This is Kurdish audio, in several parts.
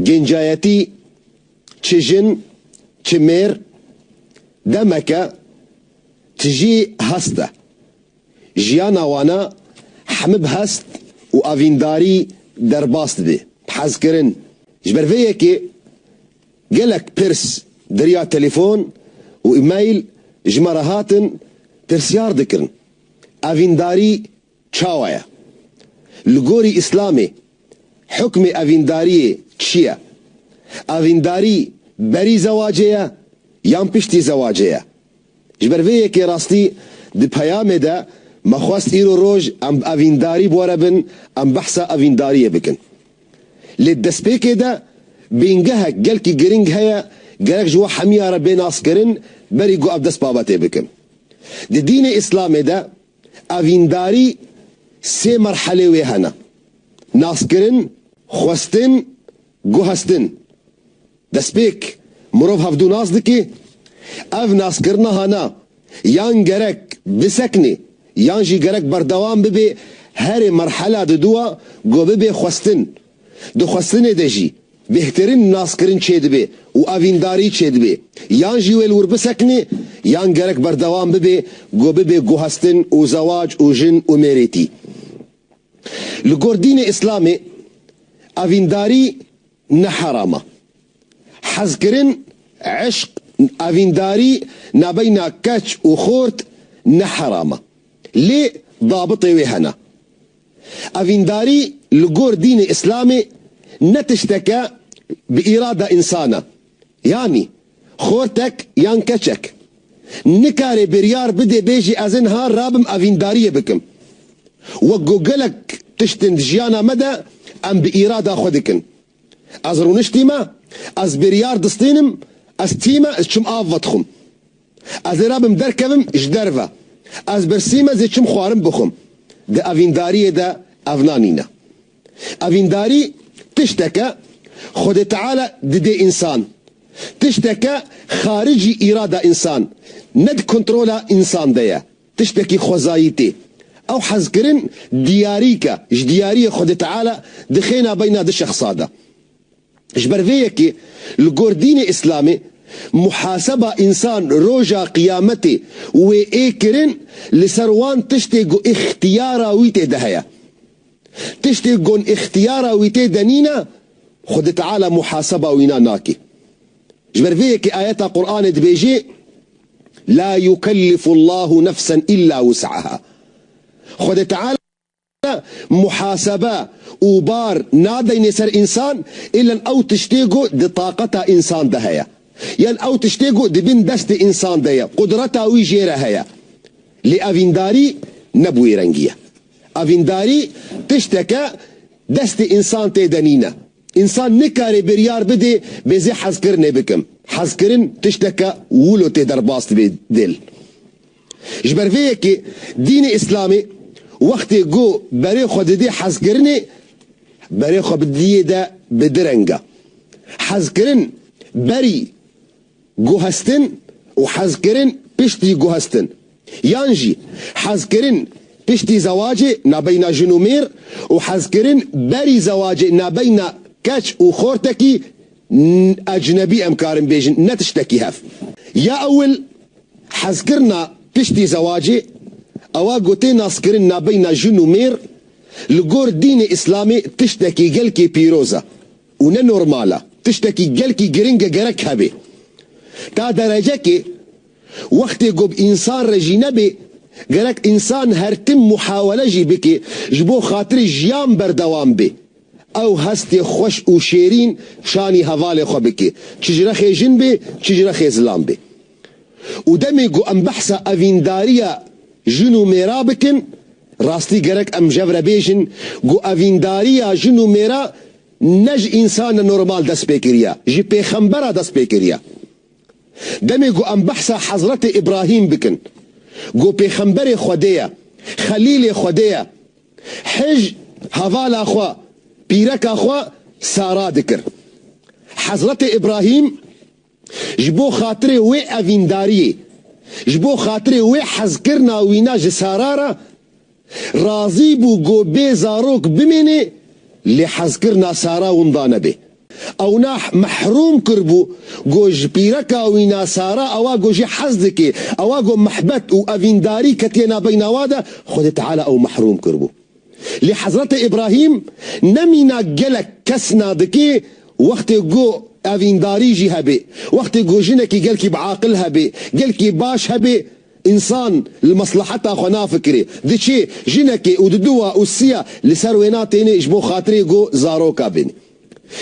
Gencayetî çi jin çi mêr demeke tijî hest e. Jiyana wana hemû bi hest û evîndarî derbas dibê. Bi hezkirin. Ji ber vê yekê gelek pirs derya telefon û email ji me re hatin pirsyar dikirin. Evîndarî Çawa ye? Li gorî Îslamê hukmê evîndariyê çi ye? Evîndarî berî zewacê ye yan piştî zewacê ye? Ji ber vê yekê rastî di peyamê de me xwest îro roj em bi evîndarî bore bin em behsa evîndariyê bikin. Lê destpêkê de bingehek gelkî giring heye gerek ji we hemiya re bê naskirin berî ku ev dest babetê bikin. Di dînê Îslamê de, Evîndarî sê merhelê wê hene, naskirin, xwestin, guhestin. Destpêk mirov hevdu nas dike, ev naskirina hene yan gerek bisekine yan jî gerek berdewam bibe herê merhela diduwa ku bibê xwestin Di xwestinê de jî bêhtirîn naskirin çêdibê û evîndarî çêdibê, yan jî wê li wir bisekinê yan gerek berdewam bibê ku bibê guhestin û zewac û jin û mêrêtî. Li gor dînê îslamê evîndarî ne heram e. Hezkirin, eşq, evîndarî nabeyna keç û xort ne heram e. Lê dabitê wê hene. Evîndarî li gor dînê îslamê ne tişteke bi îrada însan e. Yanî, xortek yan keçek, nikare biryar bide bêje ez niha rabim evîndariyê bikim. Wek ku gelek tiştên di jiyana me de em bi îrada xwe dikin. Ez rûniştîme, ez biryar distînim, ez tîme ez çûm av vedixwim. Ez ê rabim derkevim ji derve. Ez birsîme zê çim xwarin bixwim. Di evîndariyê de ev na nîne. Evîndarî tişteke Xwedê Teala didê însan. Tişteke xaricî îrada însan, ne di kontrola însan de ye. Tiştekî xwezayî tê. Ew hezkirin diyarîk e, ji diyariyê Xwedê Teala dixêna beyna du şexsa de. Ji ber vê yekê li gor dînê îslamê muhaseba însan roja qiyametê wê ê kirin li ser wan tiştê ku îxtiyara wî tê de heye. Tiştê gon îxtiyara wî tê de nîne Xwedê Teala muhaseba wîna nakê. Ji ber vê yekê ayeta Quranê dibêjê, La yukellifu Llahu nefsen îlla wus'eha. Xwedê Teala. Ne muhasebe û bar nadeyne ser însan, îlen ew tiştê ku di taqeta însan de heye. Yan ew tiştê ku di bin destê însan de ye, qudreta wî jê re heye. Lê evîndarî ne bi wê rengî ye. Evîndarî tiştek e destê însan tê de nîne. Însan nikare biryar bide bêzê hezkirinê bikim. Hezkirin tiştek e wilo tê derbas dibe dil. Ji ber vê yekê dînê îslamî wextê ku berê xwe didê hezkirinê berê xwe bi diyê de bi direng e. Hezkirin berî guhestin û hezkirin piştî guhestin yan jî hezkirin piştî zewacê nabeyna jin û mêr û hezkirin berî zewacê nabeyna keç û xortekî ecnebî em karin bêjin ne tiştekî hev ya ewil Hezkirina piştî zewacê, ewa ku tê naskirin nabeyna jin û mêr, li gor dînê îslamê tiştekî gelkî pîroz e û ne normal e, tiştekî gelkî giring e gerek hebê. Ta derecekê wextê ku bi însan re jî nebê, gerek însan her tim muhawele jî bike ji bo xatirê jiyan berdewam bê, ew hestê xweş û şêrîn şanî hevalê xwe bike, çi ji rexê jin bê, çi ji rexê zilam bê. Û demê ku em behsa evîndariya jin û mêra bikin, rastî gerek em jev re bêjin ku evîndariya jin û mêra ne ji însanê normal dest pê kiriya, ji pêxembera dest pê kiriya. Demê ku em behsa Hezretê Îbrahîm bikin ku pêxemberê Xwedê ye, xelîlê Xwedê ye, hij hevala xwe, pîreka xwe Sara dikir. Hezretê Îbrahîm Ji bo xatirê wê evîndariyê, ji bo xatirê wê hezkirina wîna ji Sara re, razî bû ku bê zarok bimîne lê hezkirina Sara winda nebe. Ewnah mehrûm kiribû ku ji pîreka wîna Sara ewa ku jê hez dike, ewa ku mihbet û evîndarî ketiye navbeyna we de, Xwedê Teala ew mehrûm kiribû. Lê Hezretê Îbrahîm ne mîna gelek kes nadikê wextê ku evîndarî jî hebê, wextê ku jinekî gelkî bi aqil hebê, gelkî baş hebê, însan li mesleheta xwe nafikirê, diçê jinekê û diduwa û siya li ser wê natênê ji bo xatirê ku zaroka bênê.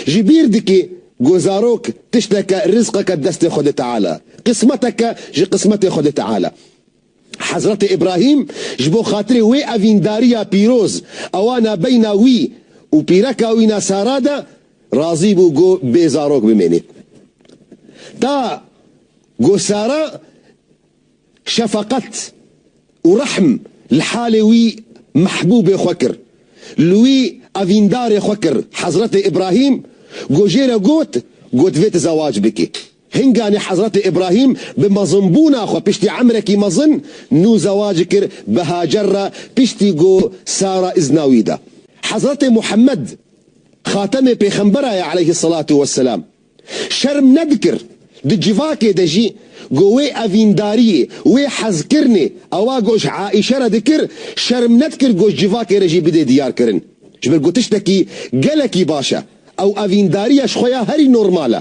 Ji bîr dikê ku zarok tişteke, rizqeke destê Xwedê Teala, qismeteke ji qismetê Xwedê Teala. Hezretê Îbrahîm ji bo xatirê wê evîndariya pîroz ewa nabeyna wî û pîreka wî na Sara de razî bû go bê zarok bimêne. Ta go Sara şefeqet û rehm li halê wî mehbûbê xwe kir. Li wî evîndarê xwe kir. Hezretê Îbrahîm go jê re got go divê tu zewac bikî. Hinganî Hezretê Îbrahîm bi mezinbûna xwe piştî emrekî mezin nû zewacî kir bi Hacer re piştî ku Sara îzna wî da. Hezretê Muhemmed, xatemê pêxembera ye eleyhî selatû weselam, şerm nedikir di civakê de jî ku wê evîndariyê, wê hezkirinê ewa goş Aîşe re dikir, şerm nedikir goş civakê re jî bidê diyarkirin. Ji ber ku tiştekî gelekî baş e. Ew evîndariya ji xwe ya herî normal e.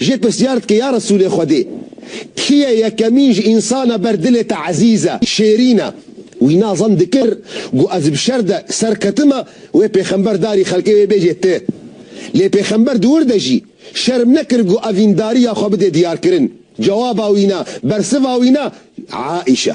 Jê pirsyar dike ya Resûlê Xwedê, kî ye yekemîn ji însan a ber dilê te ezîz e, şêrîn e? Wî na zend dikir, got, Ez bi şer de ser ketime, wê pêxember darî xelkê wê bêjê ti. Lê pêxember di wir de jî, şerm nekir got, Evîndariya xwe bidê diyarkirin. Cewaba wî na, bersiva wî na, Aîşe.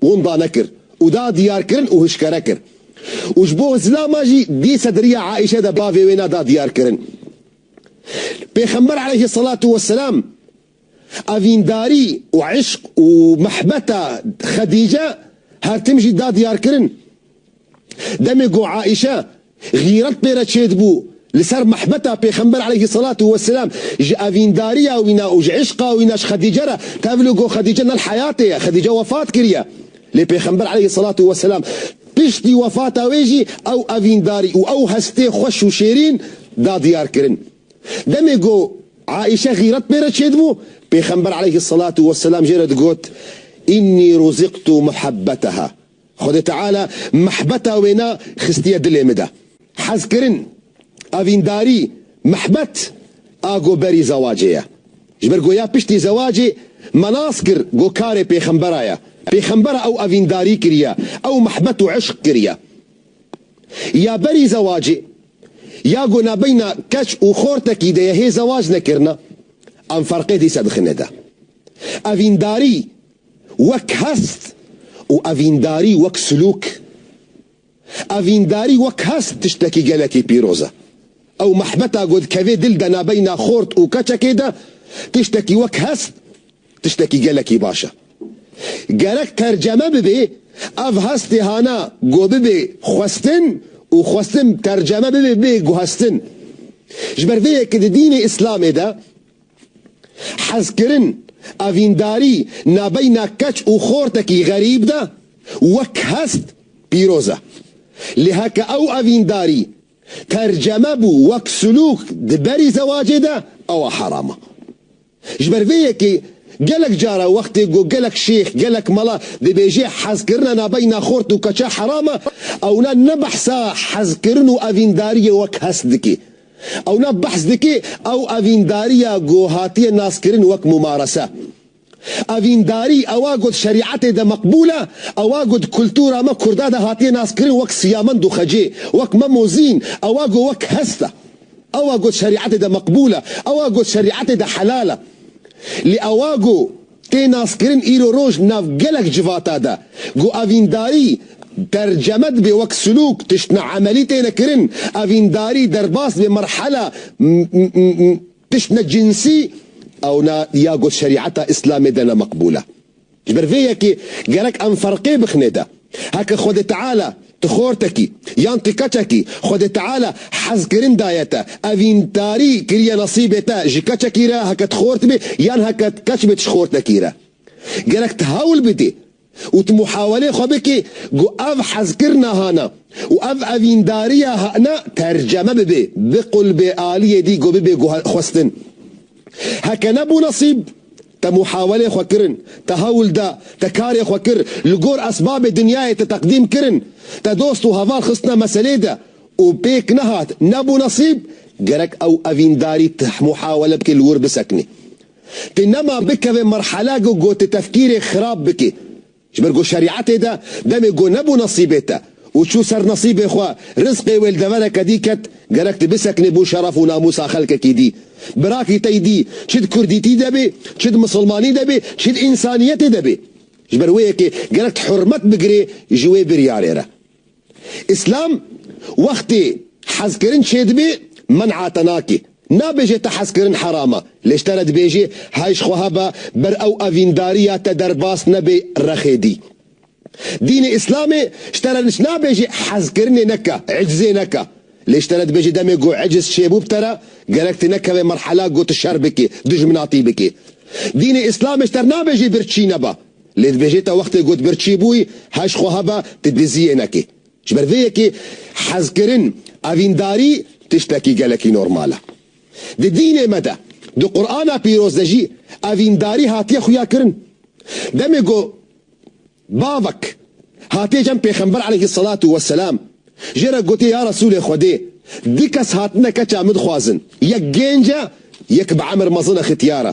Wenda nekir û da diyarkirin û hişkere kir û ji bo Zilama jî di sedriya Aîşe de bavê wê na da diyarkirin. Pêxember aleyhi selatû we selam evîndarî û îşq û mehbeta Xedîce her tim jî da diyarkirin. Demê ku Aîşe xîret pê re çêdibû li ser mehbeta Pêxember aleyhî selatû weselam ji evîndariya wî ne û ji îşqa wî ne ji Xedîce re tevlû ku Xedîce ne li heyatê ye, Xedîce wefat kiriye. Lê Pêxember aleyhî selatû weselam piştî wefata wê jî ew evîndarî û ew hestê xweş û şêrîn da diyar kirin. Demê ku Aîşe xîret pê re çêdibû, Pêxember aleyhî selatû weselam jê re digot, Înnî rûzîqtû muhebbeteha. Xwedê Teala mihbeta wê na xistiye dilê min de. Hezkirin, evîndarî, mihbet a go berî zewacê ye. Ji ber go ya piştî zewacê me nas kir go karê pêxembera ye. Pêxembera ew evîndarî kiriye, ew mihbet û îşq kiriye. Ya berî zewacê ya go nabeyna keç û xortekî de ye hê zewac nekirina. Em ferqê dîse dixine de. Evîndarî. wek hest û evîndarî wek silûk. Evîndarî wek hest tiştekî gelekî pîroz e. Ew mehbeta ku dikeve dil de nabeyna xort û keçekê de tiştekî wek hest tiştekî gelekî baş e. Gerek terceme bibe ev hestê hana ku bibe xwestin û xwestin terceme bibe bê guhestin. Ji ber vê ye ku di dînê îslamê de Hezkirin, evîndarî navbeyna keç û xortekî xerîb de wek hest pîroz e. Lê heke ew evîndarî terceme bû wek silûk di berî zewacê de ewa heram e. Ji ber vê yekê gelek care wextê ku gelek şêx, gelek mala dibêje hezkirina navbeyna xort û keça heram e, ewna ne behsa hezkirin û evîndariyê wek hest dike, Ew nav behs dike ew evîndariya ku hatiye naskirin wek mumarese. Evîndarî ewa ku di şerîetê de meqbûl e, ewa ku di kultura me kurda de hatiye naskirin wek siyamend û xecê, wek mem û zîn, ewa ku wek hest e. Ewa ku di şerîetê de meqbûl e, ewa ku di şerîetê de helal e. Lê ewa ku. Tê naskirin îro roj di nav gelek civata de ku evîndarî terceme dibe wek silûk, tiştine emelî têne kirin, evîndarî derbas dibe merhela tiştine cinsî, ewna ya got şerîeta îslamê de ne meqbûl e. Ji ber vê yekê gerek em ferqê bixine de. Heke Xwedê Teala Ti xortekî yan ti keçekî, Xwedê Teala hezkirin daye te, evîndarî kiriye nesîbê te ji keçekî re heke ti xort bê yan heke ti keç bê ti ji xortekî re. Gerek ti hewl bidî û ti muhawelê xwe bikî ku ev hezkirina hana û ev evîndariya hana terceme bibe, biqul bê aliyê dî ku bibe xwestin. Heke nebû nesîb, te muhawelê xwe kirin, te hewl da, te karê xwe kir, li gor esbabê dinyayê te teqdîm kirin, te dost û heval xistine meselê de û pêk nehat, nebû nesîb, gerek ew evîndarî tih muhawele bike li wir bisekinê. Ti nema bikeve merhele ku gotitefkîrê xirab bike, Ji ber ku şerîetê de demê ku nebû nesîbê te û çû ser nesîbê xwe, rizqê wê li devereke dî ket, gerek tu bisekinî bo şeref û namûsa xelkekî dî. Birakî te dî çi di kurdîtî de bê, çi di misilmanî de bê, çi di însaniyetê de bê. Ji ber wê yekê gerek tu hurmet bigirê ji wê biryarê re. Îslam wextê hezkirin çêdibê men'a te nake. Nabêje te hezkirin herama, lê ji te re dibêje hay ji xwe hebe ber ew evîndariya te derbas nebe rexê dî. Dînê Îslamê ji te re niç nabêje hezkirinê neke, icizê neke. Lê ji te re dibêje demê ku iciz çêbû bi te re, gerek tu nekeve merhela ku tu şer bike, dijminatî bike. Dînê Îslamê ji te re nabêje birçî nebe. Lê dibêje ta wextê ku tu birçî bûyî heş xwe hebe tu dizî yê nekî. Ji ber vê yekê hezkirin, evîndarî tiştekî gelekî normal e. Di dînê me de, di Qur'ana pîroz de jî evîndarî hatiye xuyakirin. Demê ku bavek hatiye cem pêxember aleyhî selatu weselam jê re gotiye ya Resûlê Xwedê du kes hatine keça min dixwazin, yek gênc e, yek bi emir mezin e xitiyar e.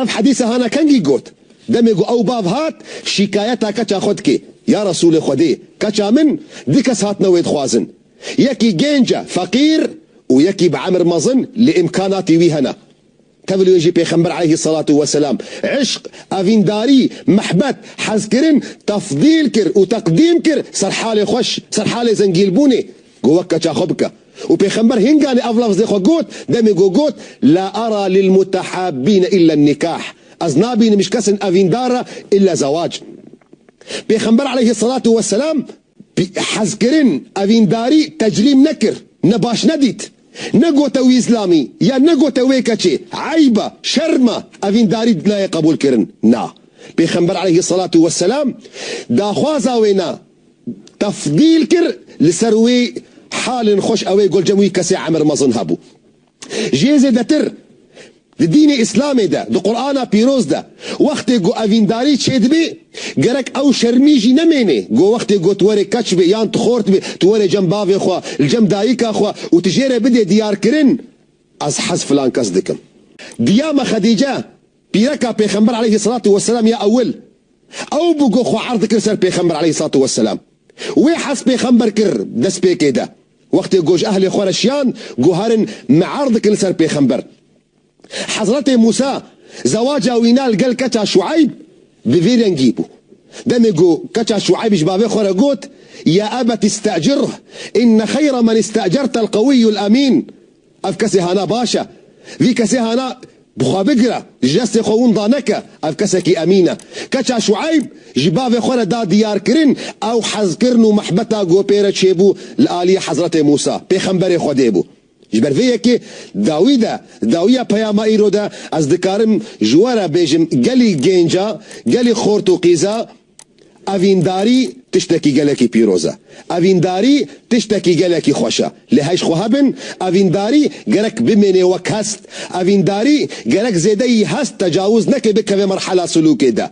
Ev hedîse hana kengî got. Demê ku ew bav hat, şîkayeta keça xwe dike, Ya Resûlê Xwedê, keça min du kes hatine wê dixwazin. Yekî gênc e, feqîr û yekî bi emir mezin lê îmkanatî wî hene. Tevil wê jî Pêxember aleyhî selatû weselam îşq, evîndarî, mihbet, hezkirin tefdîl kir û teqdîm kir ser halê xweş, ser halê zengîlbûnê, Go wek keça xwe bike. Û pêxember hîn ganî ev lafzê xwe got, demê go got, La ara lilmutehabîne îlle nikah, Ez nabînim ji kesên evîndar re îlle zewac. Pêxember eleyhi selatû we selam hezkirin, evîndarî tecrîm nekir, ne baş nedît. Negote wî îslamî ya negote wê keçê eyb e, şerm e, evîndarî nayê qebûlkirin. Na. Pêxember eleyhi selatû we selam daxwaza wê na. tefdîl kir li ser wê halên xweş ew ê gul cem wî kesê emir mezin hebû. Jê zêdetir di dînê îslamê de di qurana pîroz de wextê ku evîndarî çêdibê gerek ew şermî jî nemênê ku wextê ku tu werê keç bê yan tu xort bê tu werê cem bavê xwe li cem dayika xwe û tu jê re bidê diyarkirin ez hez filan kes dikim. Diya me xedîce Pîreka Pêxember aleyhî selatû weselam ya ewil, ew bû ku xwe erd dikir ser Pêxember aleyhî selatû weselam. Wê hez Pêxember kir destpêkê de. Wextê ku ji ehlê xwe re şiyan ku herin me erd dikin li ser Pêxember. Hezretê Mûsa zewaca wî na li gel keça Şueyb bi vê rengî bû. Demê ku keça Şueyb ji bavê xwe re got, Ya ebet îstecirh, inne xeyra men îstecertel qewîyul emîn. Ev kesê hana baş e. Vî kesê hana bi xwe bigire, ji destê xwe win daneke, ev kesekî emîn e. Keça Şueyb ji bavê xwe re da diyarkirin, ew hezkirin û mihbeta gopê re çêbû li aliyê Hezretê Mûsa, pêxemberê Xwedê bû. Ji ber vê yekê dawî de, dawiya peyama îro de ez dikarim ji we re bêjim gelî gênca, gelî xort û qîza, Evîndarî tiştekî gelekî pîroz e. Evîndarî tiştekî gelekî xweş e. Lê hej xwe hebin, evîndarî gerek bimênê wek hest. Evîndarî gerek zêdeyî hest tecawuz neke bikeve merhela silûkê de.